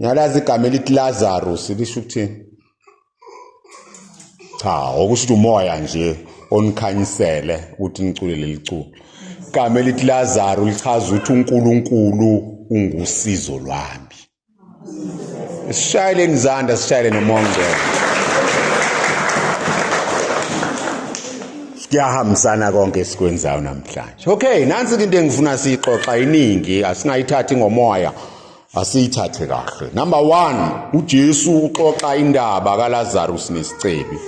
ngalazi igama elithi lazarus lisho ukuthini cha okusho ukuthi umoya nje onikhanyisele ukuthi nicule leli culo igama elithi lazaro lichaza ukuthi unkulunkulu ungusizo lwami sishayeleni izandla sishayele nomoya ongcwele kuyahambisana konke esikwenzayo namhlanje okay nansi-ke into engifuna siyixoxa iningi asingayithathi ngomoya asiyithathe kahle number 1 uJesu uxoxa indaba kaLazarus nesicebi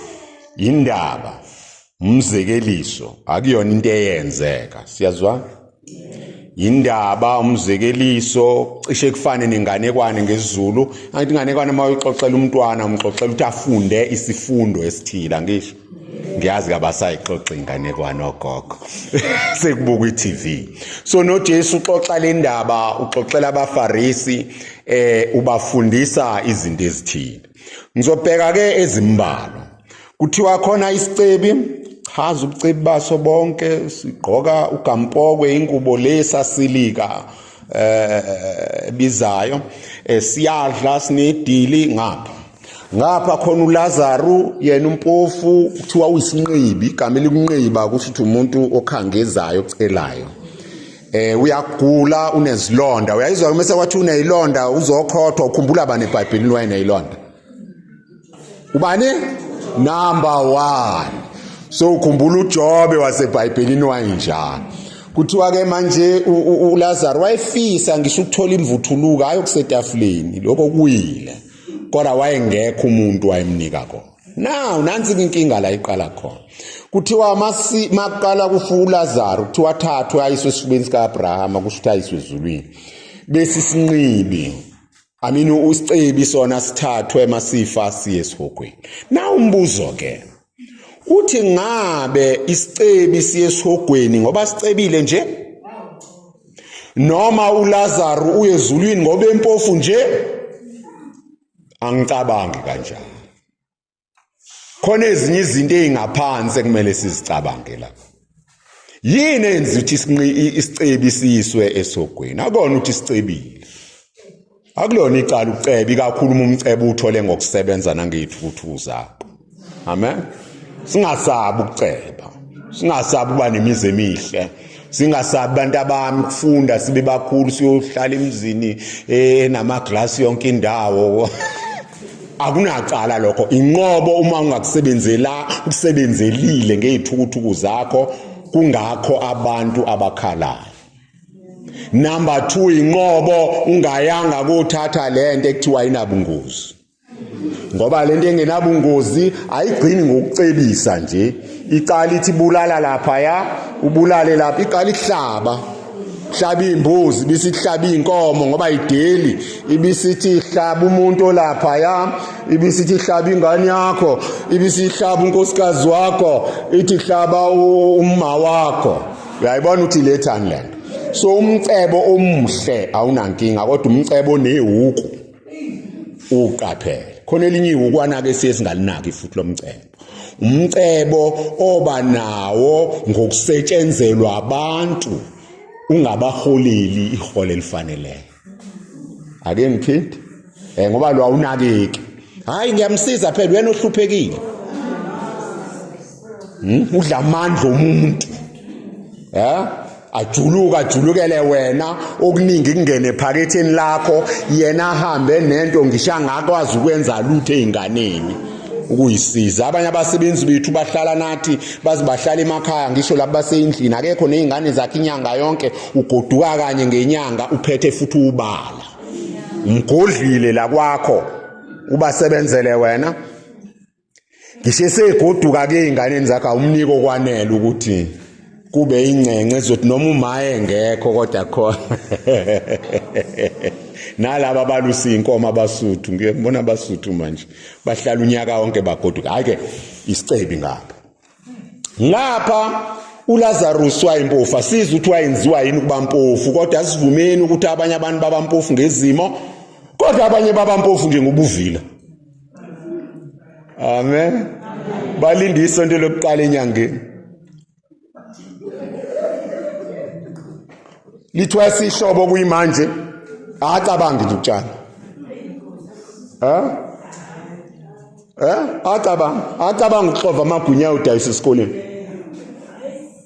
indaba umzekeliso akuyona into eyenzeka siyazwa indaba umzekeliso cishe kufane nenganekwane ngesiZulu angithi inganekwane uma uyixoxela umntwana umxoxela ukuthi afunde isifundo esithile angisho ngiyazi kabasayixoxa inganekwane ogogo sekubuka i-TV so noJesu uxoxa le ndaba uxoxela abaFarisi eh ubafundisa izinto ezithile ngizobheka ke ezimbalwa kuthiwa khona isicebi chaza ubucebi baso bonke sigqoka ugampokwe ingubo lesasilika eh bizayo eh, siyadla sinedili ngapha ngapha khona uLazaru yena umpofu kuthiwa uyisinqibi igama elikunqiba kusho ukuthi umuntu okhangezayo ocelayo eh uyagula unezilonda uyayizwa uma sekwathi unezilonda uzokhothwa ukhumbula bani eBhayibhelini wayenezilonda ubani number 1 so ukhumbula uJobe waseBhayibhelini wayinjani kuthiwa ke manje uLazaru wayefisa ngisho ukuthola imvuthuluka ayokusetafuleni lokho kuyile kodwa wayengekho umuntu wayemnika kona now nansi inkinga la iqala khona kuthiwa masi maqala kufuulazaro kuthiwa thathwe ayiswe esifubeni sika-abrahama kusho ukuthi ayiswe ezulwini bese isinqibi I mean usicebi sona sithathwe masifa siye esihogweni. Na umbuzo ke. uthi ngabe isicebi siyesihogweni ngoba sicebile nje noma uLazaru uye ezulwini ngoba empofu nje angicabangi kanjalo khona ezinye izinto ezingaphansi ekumele sizicabange lapha yini enza ukuthi isicebi siyiswe esogweni akona ukuthi sicebile akulona icala ucebe ikakhulu uma umcebe uthole ngokusebenza nangeyithuthu zakho amen singasabi ukuceba singasabi uba nemizi emihle singasabi abantu abami kufunda sibe bakhulu siyohlala emzini enamaglasi eh, yonke indawo akunacala lokho inqobo uma ungakusebenzela ukusebenzelile ngezithukuthuku zakho kungakho abantu abakhalayo number 2 inqobo ungayanga kuthatha lento ekuthiwa inabungozi ngoba lento engenabungozi ayigcini ngokucebisa nje iqala ithi bulala lapha ya ubulale lapha iqala ihlaba hlaba imbuzi bisihlaba inkomo ngoba ideli ibisithi hlaba umuntu olapha ya ibisithi hlaba ingane yakho ibisihlaba unkosikazi wakho ithi hlaba umma wakho uyayibona ukuthi lethani lento so umcebo omuhle awunankinga kodwa umcebo onewuku uqaphele khona elinye iwukwana-ke siye singalinaki futhi lo mcebo umcebo oba nawo ngokusetshenzelwa abantu ungabaholeli ihole elifaneleyo ake ngiphinde eh ngoba lo awunakeki hayi ngiyamsiza phela wena ohluphekile hmm? udla amandla omuntu ya ajuluka ajulukele wena okuningi kungene phaketheni lakho yena ahambe nento ngisho angakwazi ukwenza lutho ezinganeni ukuyisiza abanye abasebenzi bethu bahlala nathi baze bahlala emakhaya ngisho labo baseyindlini akekho nezingane zakhe inyanga yonke ugoduka kanye ngenyanga uphethe futhi ubala umgodlile la kwakho ubasebenzele wena ngisho esegoduka-ke ey'nganeni zakhe awumnike okwanele ukuthi kube ingcengce zothi noma umaye ngekho kodwa khona nalaba balusa iy'nkomo abasuthu ngiyebona abasuthu manje bahlala unyaka wonke bagoduka hhayi-ke isicebi ngabo ngapha uLazarus wayimpofu asizi ukuthi wayenziwa yini ukuba mpofu kodwa asivumeni ukuthi abanye abantu baba mpofu ngezimo kodwa abanye baba mpofu nje ngobuvila amen balinde isonto lokuqala enyangeni lithiwa sihlobo kuyimanje acabangi nje utshala ha eh acabanga acabanga ukuxova amagunya udayisa esikoleni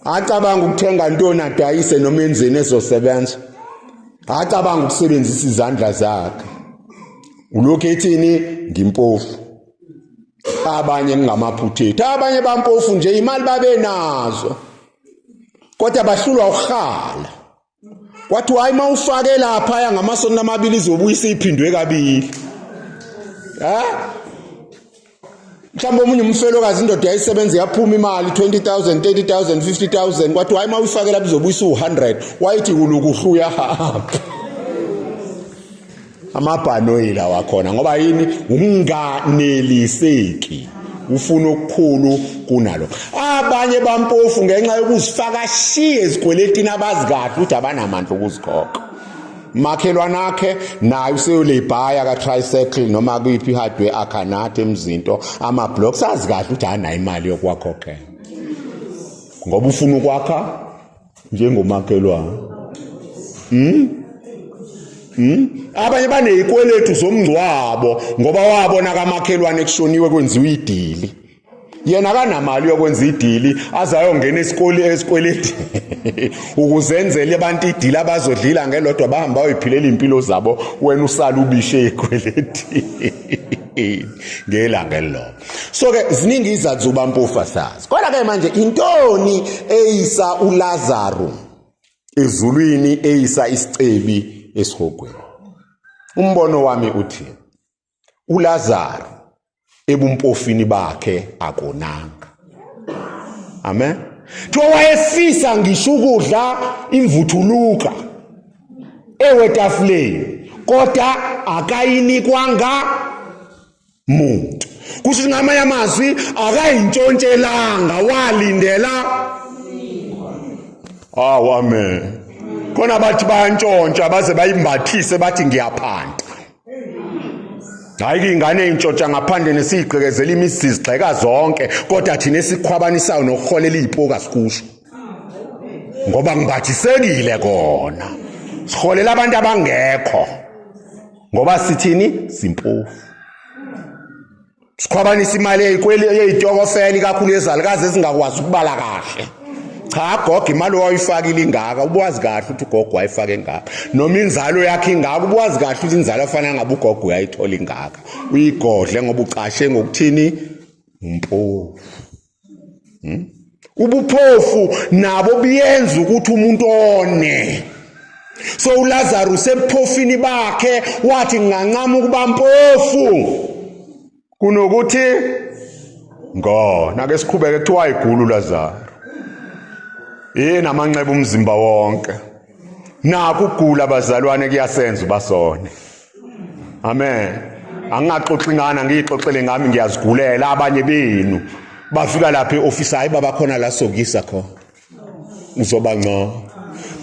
acabanga ukuthenga ntoni adayise noma enzeni ezosebenza acabanga ukusebenzisa izandla zakhe ulokhu ethini ngimpofu abanye ngingamaphuthethi abanye bampofu nje imali babenazo kodwa bahlulwa ukuhala kwathi hayi mawufake lapha ya ngamasonto amabili izobuyisa iphindwe kabili ha mhlawumbe omunye umfelokazi indoda yayisebenza yaphuma imali 20000 30000 50000 kwathi hayi mawuyifake lapha izobuyisa u100 wayithi kulukuhlu uyahamba amabhanoyi lawa khona ngoba yini ukunganeliseki ufuna okukhulu kunalo abanye bampofu ngenxa yokuzifaka shiye ezikweletini abazi kahle ukuthi abanamandla okuzikhokha makhelwane akhe naye useyolebhaya ka-tricycle noma kuyiphi ihardware akhanathe emzinto ama-blocks azi kahle ukuthi anayo imali yokuwakhokhela ngoba ufuna ukwakha njengomakhelwane mm? Hmm? abanye banezikweletu zomngcwabo ngoba wabona kamakhelwane kushoniwe kwenziwa idili yena kanamali yokwenza idili azayongena esikole esikweleti ukuzenzela abantu idili abazodlila ngelodwa bahamba bayiphilela impilo zabo wena usala ubishe ikweleti ngelanga elilodwa so ke ziningi izathu zokuba mpofu asazi kodwa ke manje intoni eyisa ulazaru ezulwini eyisa isicebi esihogweni umbono wami uthi ulazaru ebumpofini bakhe akonanga amen kuthiwa wayefisa ngisho ukudla imvuthuluka ewetafuleni kodwa akayinikwanga muntu kusho ukuthi ngamanye amazwi akayintshontshelanga walindela awu amen khona bathi bayantshontsha baze bayimbathise bathi ngiyaphanda hayi kuyingane eyintshontsha ngaphandle nesiyigqekezela imizi zigxeka zonke kodwa thina esikhwabanisayo nokuholela iyipoka sikusho ngoba ngibhathisekile kona siholela abantu abangekho ngoba sithini simpofu sikhwabanisa imali yeyitokofela ikakhulu yezalukazi ezingakwazi ukubala kahle cha gogo imali owayifakile ingaka ubuwazi kahle ukuthi ugogo wayifake ingaka noma inzalo yakhe ingaka ubuwazi kahle ukuthi inzalo afana ngabe ugogo uyayithola ingaka uyigodle ngoba ucashe ngokuthini umpofu hmm? ubuphofu nabo buyenza ukuthi umuntu one so uLazaru sebuphofini bakhe wathi ngingancama ukuba mpofu kunokuthi ngona ke siqhubeke kuthiwa igulu uLazaru yini amanxeba umzimba wonke naku gula bazalwane kuyasenza ubasone amen angingaxoxi ngana ngiyixoxele ngami ngiyazigulela abanye benu bafika lapha eoffice hayi baba khona la sokisa khona uzoba ngcono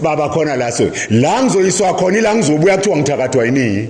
baba khona la so la ngizoyiswa khona ila ngizobuya kuthiwa ngithakathwa yini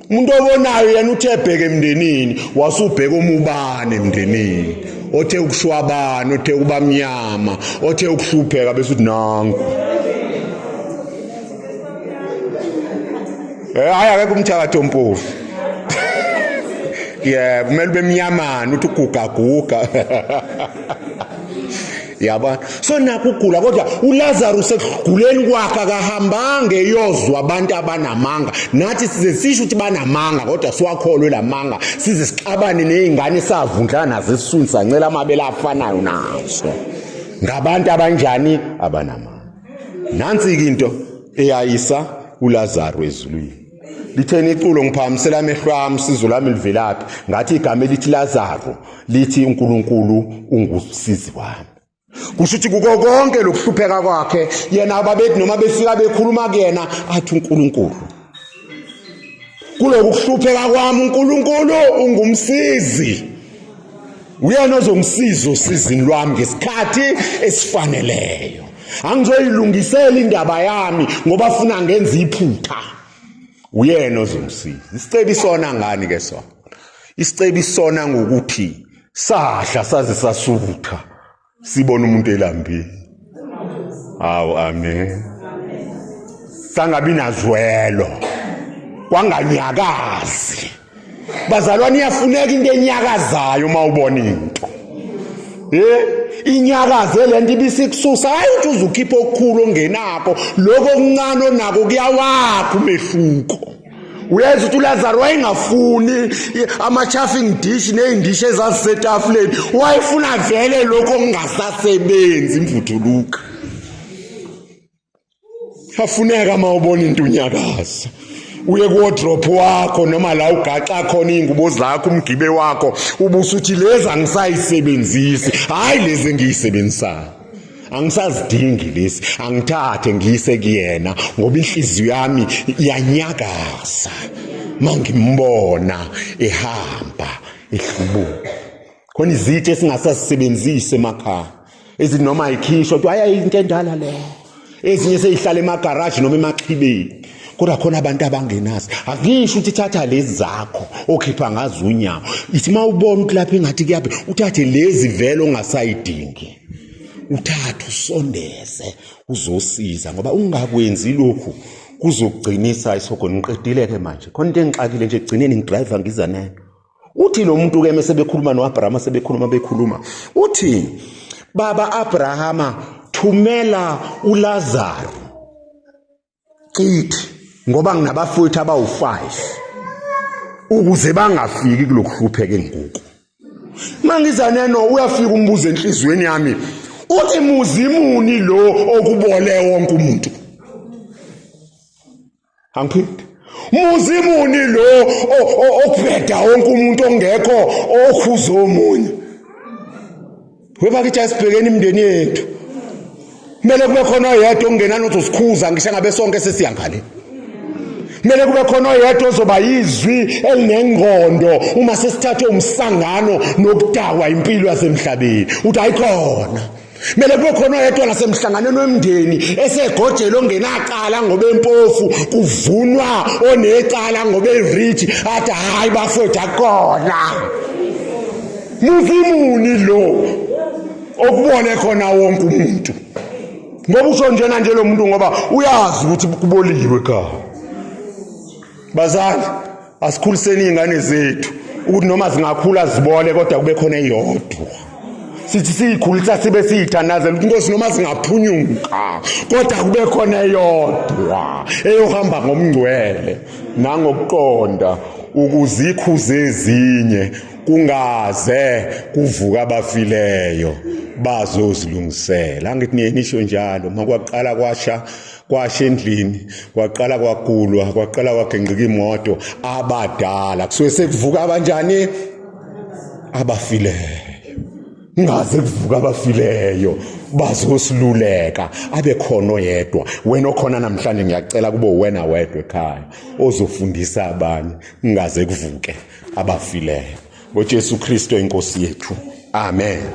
umuntu obonayo yena uthe ebheke emndenini wasubheka umubane emndenini othe ukushwabana othe kuba mnyama othe ukuhlupheka bese uthi nangu eh hayi akekho umthakathi ompofu yeah kumele bemnyamana uthi ugugaguga yabona so nakho ugula kodwa uLazarus ekuguleni kwakhe akahambanga eyozwa abantu abanamanga nathi size sisho ukuthi banamanga kodwa siwakholwe lamanga size sixabane nezingane savundla nazo esisuni sancela amabele afanayo nazo ngabantu abanjani abanamanga nansi into eyayisa uLazarus ezulwini litheni iculo ngiphakamisela amehlo ami sizo lami livelaphi ngathi igama elithi lazaro lithi unkulunkulu ungusizi wami kusho ukuthi kuko konke lokuhlupheka kwakhe yena ababethi noma befika bekhuluma kuyena athi unkulunkulu kulokuhlupheka kwami unkulunkulu ungumsizi uyena ozongisiza usizini lwami ngesikhathi esifaneleyo angizoyilungisela indaba yami ngoba funa ngenza iphutha uyena ozongisiza isicebi sona ngani ke sona isicebi sona ngokuthi sadla saze sasutha sibona umuntu elambile hawu amen sangabi nazwelo kwanganyakazi bazalwane iyafuneka into enyakazayo uma ubona into Eh inyakaze lento ibisikususa hayi uthi uzukhipha okukhulu ongenako lokho okuncane onako kuyawakha umehluko uyazi ukuthi ulazaro wayengafuni ama-chaffing dish ney'ndishi ezazisetafuleni wayefuna vele lokho okungasasebenzi imvuthuluka afuneka uma ubona into unyakaza uye kuwodrop wakho noma la ugaxa khona iy'ngubo zakho umgibe wakho ubusuthi lezi angisayisebenzisi hhayi lezi engiyisebenzisayo angisazidingi lesi angithathe ngiyise kuyena ngoba inhliziyo yami iyanyakaza mangimbona ehamba ehlubuka khona izitshe esingasasebenzisi emakhaya ezinoma ikhishwa kuthiwa ayayinto endala leyo ezinye seyihlala emagaraji noma emaxhibeni kodwa khona abantu abangenazi akusho ukuthi thatha lezi zakho okhipha ngazo unyawo ithi uma ubona ukuthi lapha engathi kuyaphi uthathe lezi vele ongasayidingi uthathe usondeze uzosiza ngoba ungakwenzi lokhu kuzogcinisa isogoni ngiqedile-ke manje khona into engixakile nje ekugcineni ngidrive ngiza nayo uthi lo muntu ke mese bekhuluma noAbrahama sebekhuluma bekhuluma uthi baba Abrahama thumela uLazaro cithi ngoba nginabafowethu abawu5 ukuze bangafiki kulokuhlupheka enguku mangizane no uyafika umbuzo enhlizweni yami uthi muzi muni lo okubole wonke umuntu angiphindi muzi muni lo okubheda wonke umuntu ongekho okhuza omunye webakithi asibhekeni imindeni yethu kumele kube khona oyedwa ongenani ukuthi usikhuza ngisho ngabe sonke sesiya ngale kumele kube khona oyedwa ozoba yizwi elinengqondo uma sesithathe umsangano nokudakwa impilo yasemhlabeni uthi ayikhona Mele kube khona oyedwa nasemhlanganweni wemndeni esegojela ongenacala ngoba empofu kuvunwa onecala ngoba erich athi hayi bafethu akona muvimuni lo okubone khona wonke umuntu ngoba usho njena nje lo muntu ngoba uyazi ukuthi kuboliwe ekhaya bazali asikhuliseni iy'ngane zethu ukuthi noma zingakhula zibole kodwa kube khona eyodwa sithi siyikhulisa sibe siyithandazela ukuthi inkosi noma zingaphunyuka kodwa kube khona eyodwa eyohamba ngomngcwele nangokuqonda ukuzikhuza ezinye kungaze kuvuka abafileyo bazozilungisela angithi niye nisho njalo makwaqala kwasha kwasha endlini kwaqala kwagulwa kwaqala kwagengqika imoto abadala kusuke sekuvuka abanjani abafileyo ngaze kuvuka abafileyo bazosiluleka abe khona oyedwa wena okhona namhlanje ngiyacela kube wena wedwa ekhaya ozofundisa abanye ngaze kuvuke abafileyo ngoJesu Kristo inkosi yethu amen